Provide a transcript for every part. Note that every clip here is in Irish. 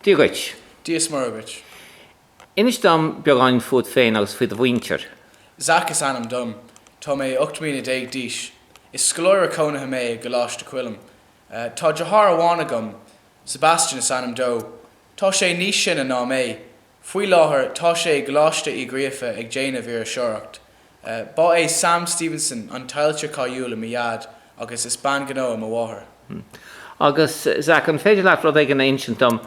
Dia dhuit. Dia is Muire dhuit. Inis dom beagáinín fút féin agus faoi do mhuintir. Zac is ainm dom. Tá mé ocht mbliana déag d'aois. Is scoláire cónaithe mé i gColáiste Choilm. Tá deartháir amháin agam. Sebastian is ainm dó. Tá sé níos sine ná mé. Faoi láthair tá sé i gColáiste Uí Ghríofa ag déanamh iriseoireacht. Ba é Sam Stevenson an t-ailtire cáiliúil mo Dhaid agus is bean ghnó í mo mháthair. Hmm. Agus, Zach, an féidir leat rud éigin a insint dom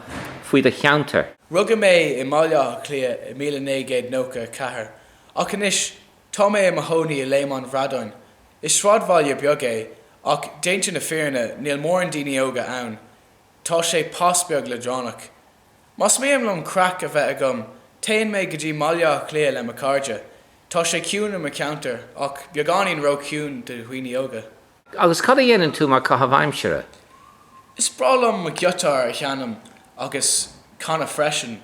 faoi do cheantar? Rugadh mé i mBaile Átha Cliath i míle naoi gcéad nócha a ceathair, ach anois tá mé i mo chónaí i Léim an Bhradáin. Is sráidbhaile beag é, ach déanta na fírinne níl mórán daoine óga ann. Tá sé pas beag leadránach. Más mian liom craic a bheith agam, téann mé go dtí mBaile Átha Cliath le mo chairde. Tá sé ciúin i mo cheantar, ach beagáinín ró-chiúin do dhaoine óga. Agus cad a dhéanann tú mar chaitheamh aimsire? Is breá liom mo ghiotár a sheinm agus canadh freisin.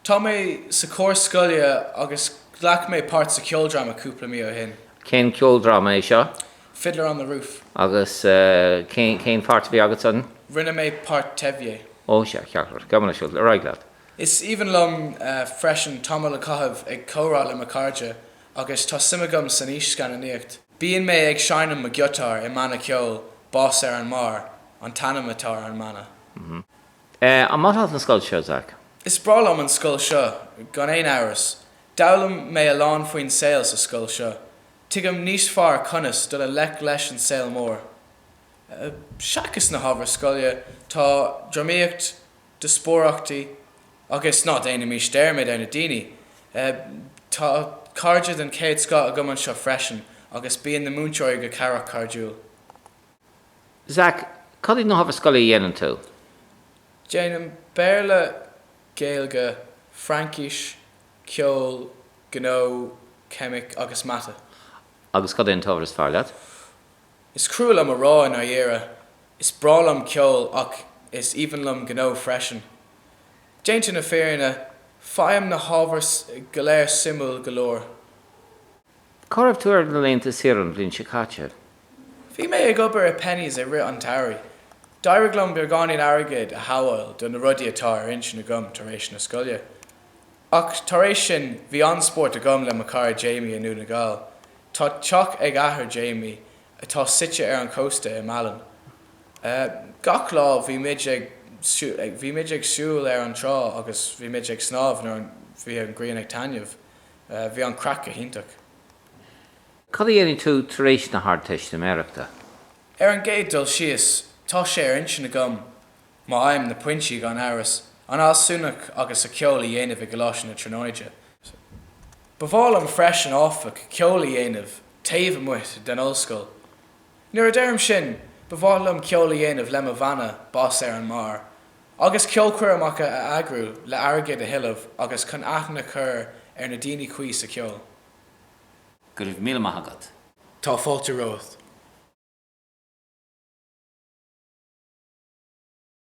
Tá mé sa chór scoile agus ghlac mé páirt sa cheoldráma cúpla mí ó shin. Cén ceoldráma é seo? Fiddler on the Roof. Agus cén páirt a bhí agat san? Rinne mé páirt Tevye. Ó, sea, ceart go leor. Gabh mo leithscéal. Ar aghaidh leat. Is aoibhinn liom freisin tamall a chaitheamh ag comhrá le mo chairde agus tá suim agam san fhís-scannánaíocht. Bíonn mé ag seinm mo ghiotáir i mbanna ceoil, Bás ar an mBarr an t-ainm atá ar an mbanna. An maith leat an scoil seo, Zach? Is breá liom an scoil seo, gan aon amhras. D'fhoghlaim mé a lán faoin saol sa scoil seo. Tuigim níos fearr conas dul i ngleic leis an saol mór. Eh, seachas na hábhair scoile, tá drámaíocht, díospóireachtaí agus, ná déanaimis dearmad ar na daoine, eh, tá cairde den chéad scoth agam anseo freisin agus bíonn na múinteoirí go cabhrach cairdiúil. Zach, cad iad na hábhair scoile a dhéanann tú? Déanaim Béarla, Gaeilge, Fraincis, Ceol, Gnó, Ceimic agus Mata. Agus cad é an t-ábhar is fearr leat? Is crua liom a rá i ndáiríre. Is breá liom ceol ach is aoibhinn liom gnó freisin. Déanta na fírinne, faighim na hábhair go léir suimiúil go leor. Cá raibh tú ar na laethanta saoire an bhliain seo caite? Bhí mé ag obair i Penneys i rith an tsamhraidh. D'éirigh liom beagáinín airgid a shabháíl do na rudaí atá ar intinn agam tar éis na scoile. Ach tar éis sin, bhí an-spórt agam le mo chara Jamie i nDún na Gall. Tá teach ag athair Jamie, atá suite ar an gcósta, i Málainn. Gach lá, bhí muid ag bhí muid ag siúl ar an trá agus bhí muid ag snámh nuair a bhí an ghrian ag taitneamh. Eh, bhí an chraic go hiontach. Cad a dhéanfaidh tú tar éis na hArdteistiméireachta? Ar an gcéad dul síos, tá sé ar intinn agam má fhaighim, na pointí gan amhras, an fhealsúnacht agus sa cheol a dhéanamh i gColáiste na Tríonóide. Ba mhaith liom freisin áfach ceol a dhéanamh taobh amuigh den ollscoil. Nuair a deirim sin, ba mhaith liom ceol a dhéanamh le mo bhanna, Bás ar an mBarr, agus ceolchoirmeacha a eagrú le airgead a thuilleamh agus chun aithne a chur ar na daoine cuí sa cheol. Go raibh míle maith agat. Tá fáilte romhat.